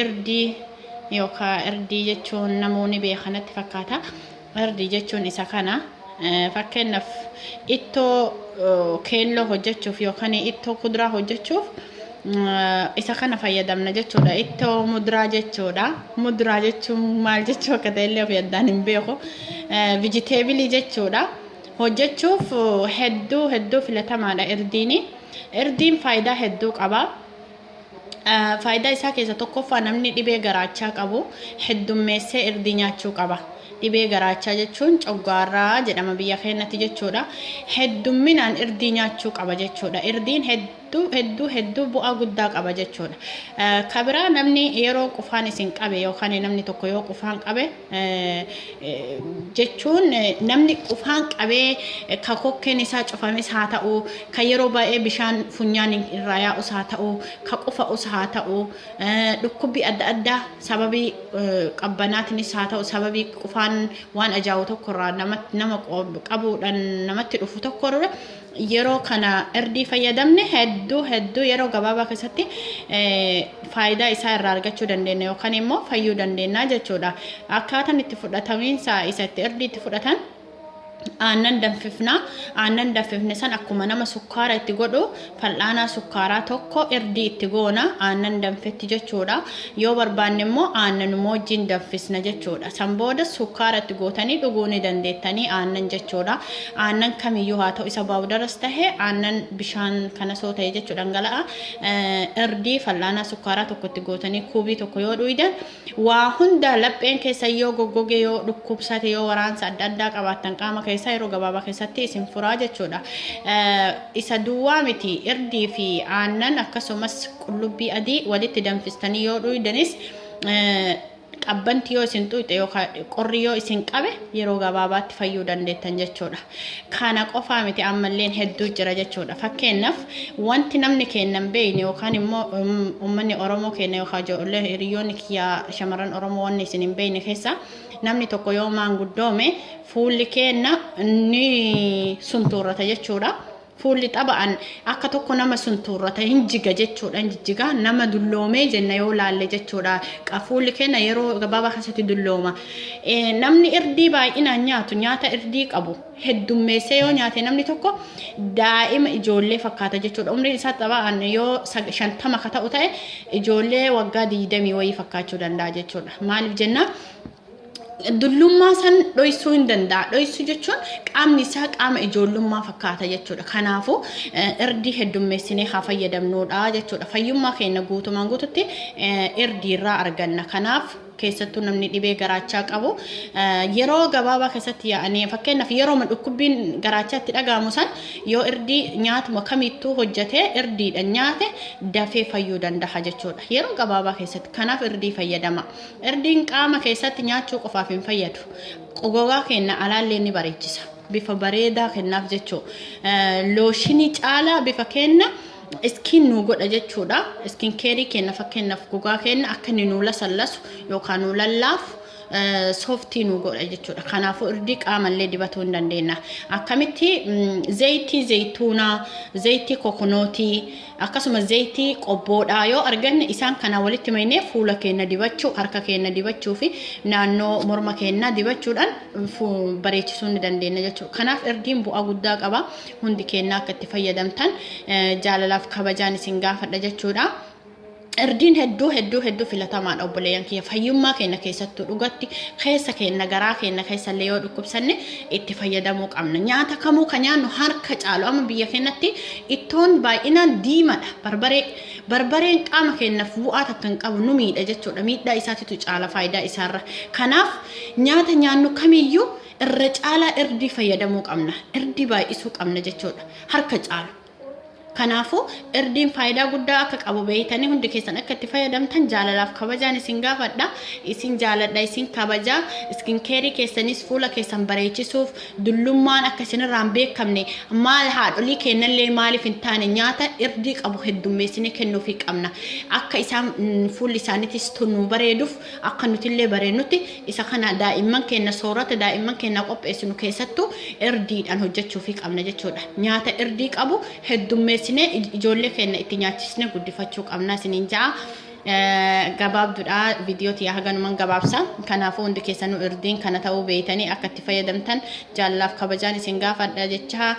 Irdii yookaa irdii jechuun namuu ni beeka natti fakkaata. Irdii jechuun isa kana. Fakkeenyaaf ittoo keelloo hojjechuuf yookaan ittoo kuduraa hojjechuuf isa kana fayyadamna jechuudha. Ittoo muduraa jechuudha. Muduraa jechuun maal jechuu akka ta'e illee of yaddaan hin beeku. Vijiteebilii jechuudha. Hojjechuuf hedduu hedduu filatamaadha irdiini. Irdiin faayidaa hedduu qaba. Faayidaa isaa keessa tokkoffaa namni dhibee garaachaa qabu heddummeessee irdii nyaachuu qaba. Dhibee garaachaa jechuun coggaarraa jedhama biyya keenyatti jechuudha. Heddumminaan irdii nyaachuu qaba jechuudha. Irdiin hedduu hedduu hedduu bu'aa guddaa qaba jechuudha. Kabiraa namni yeroo qufaan isin qabe yookaan namni tokko yoo qufaan qabe jechuun namni qufaan qabee ka kokkeen isaa cufames haa ta'u ka yeroo baay'ee bishaan funyaan irraa yaa'us haa ta'u ka qufa'us haa ta'u dhukkubbii adda addaa sababii qabbanaatinis haa ta'u sababii qufaan waan ajaa'u tokkorraa nama qabuudhaan namatti dhufu tokkorra yeroo kana irdii fayyadamne hedduu hedduu yeroo gabaabaa keessatti faayidaa isaa irraa argachuu dandeenya yookaan immoo fayyuu dandeenya jechuudha. Akkaataan itti fudhatamiinsa isa itti irdii itti fudhatan aannan danfifna aannan danfifne san akkuma nama sukkaara itti godhu fal'aanaa sukkaaraa tokko irdii itti goona aannan danfetti jechuudha yoo barbaanne immoo aannan moojjiin danfisna jechuudha san booda sukkaara itti gootanii dhuguu ni dandeettanii aannan jechuudha Aannan kamiyyuu haa ta'u isa baawudaras tahe aannan bishaan kanas yoo ta'e jechu dhangala'a irdii fal'aanaa sukkaaraa tokko itti gootanii kuubii tokko yoo dhuydan waa hunda lapheen keessan yoo goggoge yoo dhukkubsate yoo waraansa adda addaa qabaattan qaama keessaa yeroo gabaabaa keessatti isin furaa jechuudha. Isa duwwaa miti irdii fi aannan akkasumas qullubbii adii walitti danfistanii yoo dhuydanis Qabbanti yoo isin xuuxe yookaan qorri yoo isin qabe yeroo gabaabaatti fayyuu dandeettan jechuudha. Kana qofaa miti ammalleen hedduu jira jechuudha. Fakkeenyaaf wanti namni keenya hin beekne yookaan immoo uummanni Oromoo keenya yookaan ijoollee hiriyoonni kiyyaa shamarran Oromoo wanni isin hin beekne keessaa namni tokko yoo maanguddoome fuulli keenya ni suntuurrata jechuudha. Fuulli xaba'an akka tokko nama suntuurrata hin jiga jechuudha hin jijjiga nama dulloomee jenna yoo laalle jechuudha Qa- fuulli keenya yeroo gabaabaa keessatti dullooma Eh, namni irdii baay'inaan nyaatu nyaata irdii qabu heddummeessee yoo nyaate namni tokko daa'ima ijoollee fakkaata jechuudha umriin isaa xaba'an yoo sag- shantama ka ta'u ta'e ijoollee waggaa digdamii wayii fakkaachuu danda'a jechuudha maaliif jennaa dullummaa san dhoysuu hin danda'a. Dhoysuu jechuun qaamni isaa qaama ijoollummaa fakkaata jechuudha. Kanaafuu irdii heddummeessinee haa fayyadamnuudha jechuudha. Fayyummaa keenya guutumaan guututti irdii irraa arganna. Kanaaf keessattuu namni dhibee garaachaa qabu yeroo gabaabaa keessatti yaa'anii fakkeenyaaf yeroo dhukkubbiin garaachaatti dhaga'amu san yoo irdii nyaatuma kamittuu hojjetee irdiidha nyaate dafee fayyuu danda'a jechuudha. Yeroo gabaabaa keessatti kanaaf irdii fayyadama. Irdiin qaama keessatti nyaachuu qofaaf hin fayyadu. Gogaa keenya alaallee ni bareechisa. Bifa bareedaa kennaaf jechuu. Looshinii caalaa bifa keenya iskiin nuu godha jechuudha. Iskiin keerii keenya fakkeenyaaf gogaa keenya akka inni nuu lasallasu yookaan nuu lallaafu sooftii nuu godha jechuudha. Kanaafuu irdii qaamallee dibatuu hin dandeenya. Akkamitti zayitii zayituunaa, zayitii kokonootii, Akkasuma zeeytii qobboodhaa yoo arganne isaan kanaan walitti maynee fuula keenna dibachuu, harka keenna dibachuu fi naannoo morma keennaa dibachuudhaan bareechisuu ni dandeenya jechuudha. Kanaaf irdiin bu'aa guddaa qaba. Hundi keennaa akka itti fayyadamtan jaalalaaf kabajaan isin gaafadha jechuudha. Irdiin hedduu hedduu hedduu filatamaadha obboleeyyan kiyya fayyummaa keenya keessattuu dhugatti keessa keenya garaa keenya keessallee yoo dhukkubsanne itti fayyadamuu qabna nyaata kamuu kan nyaannu harka caalu amma biyya keenyatti ittoon baay'inaan diimadha barbaree barbareen qaama keenyaaf bu'aa takka hin qabu nu miidha jechuudha miidhaa isaatitu caala faayidaa isaarra kanaaf nyaata nyaannu kamiyyuu irra caalaa irdii fayyadamuu qabna irdii baay'isuu qabna jechuudha harka caalu. Kanaafuu, irdiin faayidaa guddaa akka qabu beektanii hundi keessan akka itti fayyadamtan jaalalaaf kabajaan isin gaafadha. Isin jaaladha, isin kabaja. Iskin keerii keessanis fuula keessan bareechisuuf dullummaan akka isinirraa hin beekamne maal haadholii keennallee maaliif hin taane nyaata irdii qabu heddummeessinee kennuufii qabna. Akka isaan fuulli isaaniitis tun nuu bareeduuf Akka nutillee bareennutti isa kana daa'imman keenna soorata daa'imman keennaa qopheessinu keessattuu irdiidhaan hojjachuufii qabna jechuudha. Nyaata irdii qabu heddummeessinee ijoollee keenna itti nyaachisnee guddifachuu qabna isiniin ja'a. gabaabdudha viidiyoo tiyya haganuman gabaabsa kanaafuu hundi keessanuu irdiin kana ta'uu beeytanii akka itti fayyadamtan jaallaaf kabajaan isin gaafadha jecha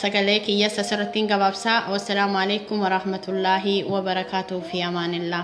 sagalee kiyyas asirrattiin gabaabsa wassalaamu alaikum warahmatullaahi wabarakaatuhu fi amaanillaa